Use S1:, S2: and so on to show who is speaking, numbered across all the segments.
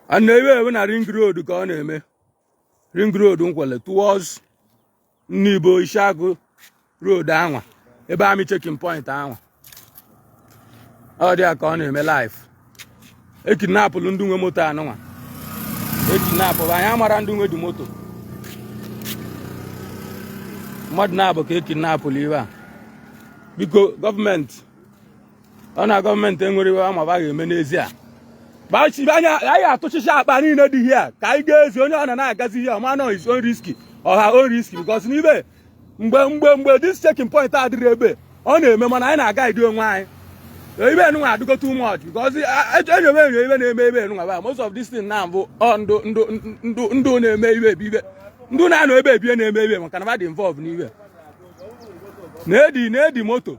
S1: a na-ewe ewe na ring road ka ọ na-eme ring road nkwelle towards nibo isiagu road anwa ebe army checking point anwa ọ dị ya ka ọ na-eme live ekidnapụlụ ndị nwe moto anụnwa ekidnapụlụ anyị amara ndị nwe dị moto mmadụ naabọ ka ekidnapụlụ here biko gọọmenti ọ na gọọmenti enwere iwe ama ba ga-eme n'ezie gbachibe anya anyị atụchicha akpa niile dị here ka anyị ga-ezi onye ọ na na-agazi here ma n'ọ his own risk or her own risk because n'ibe mgbe mgbe mgbe this checking point adịrị ebe ọ na-eme mana anyị na-agaidi onwe anyị ibe enunwa adịgo too much because enyobe enyo ibe na-eme ebe enunwa ba most of this thing na bụ ndụ ndụ ndụ ndụ na-eme ibe ebe ibe ndụ na-anọ ebe ebie na-eme ibe maka na ba dị involved n'ibe na-edi na-edi moto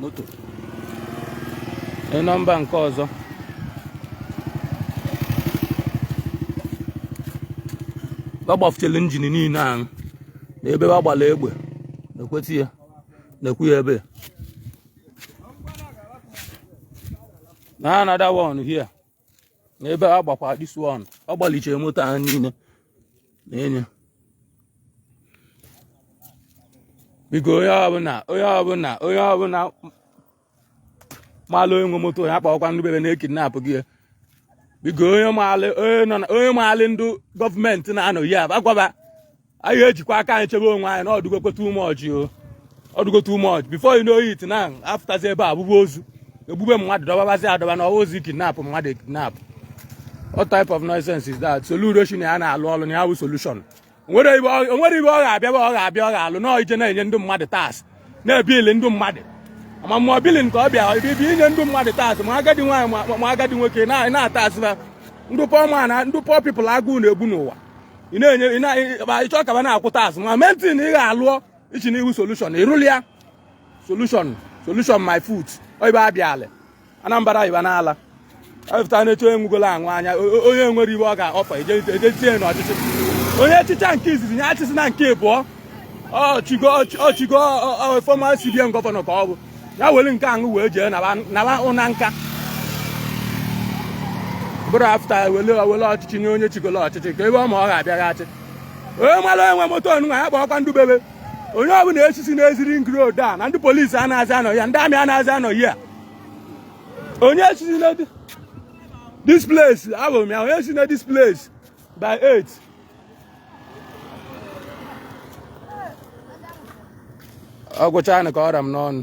S1: moto nọmba nke ọzọ ba gbafuchala injin niile ahụ na ebe ba gbalụ egbe nekwetị ya nekwu ya ebe na another one here n'ebe a gbakwa this one ọ gbalichere moto a niile na enye biko onye ọbụla onye ọbụla onye ọbụla maalụ onye nwe moto ya kpọkwa ndị be be na ekidnapụgo biko onye maalị ndị gọọmenti na-anọ ya agwa ba anyị ejikwa aka anyị chebe onwe anyị na ọ dụgokwe too much o ọ dụgo too much before you know it now afụtazi ebe a bụbụ ozu egbube mmadụ dọbabazi adọba na ọ bụzi kidnap mmadụ kidnap what type of nonsense is that solution ya na-alụ ọlụ na ya bụ solution o nwere ibe ọ ga-abịa ọ ga-abịa ọ ga-alụ n'ọ ije na-enye ndị mmadụ tax na-ebili ndị mmadụ ma mmụọ billing ka ọ bịa bụ inye ndị mmadụ tax ma agadi nwaanyị ma agadi nwoke na-atasị ba ndị poor man ndị poor people agụụ na-egbu n'ụwa ị na-enye ị chọ ka ba na-akwụ tax ma main thing ị ga-alụọ ị sị n'ị bụ solution ị rụli ya solution solution my foot oibe abịa ala anambra iba n'ala ewepụta na-eche onye nwugolo aṅụ anya onye nwere ibe ọ ga-offer e jezie n'ọchịchị onye chịcha nke izizi ya achịzịna nke ịbụọ ọ chịgo former cbn governor ka ọ bụ ya were nke aṅụ wee jee naba ụna nka bụrụ after wele wele ọchịchị nye onye chigolo ọchịchị ka ebe ọ ma ọ ga-abịaghachi onye mara onye nwe moto anụnwa ya kpọọkwa ndụ be be onye ọbụla esizina ezi ring road a na ndị polisi anaghịzi anọ ya ndị army anaghịzi anọ ya onye si na this place abụ m ya onye si na this place by 8 ọ gwụchaana ka ọ ra m n'ọnụ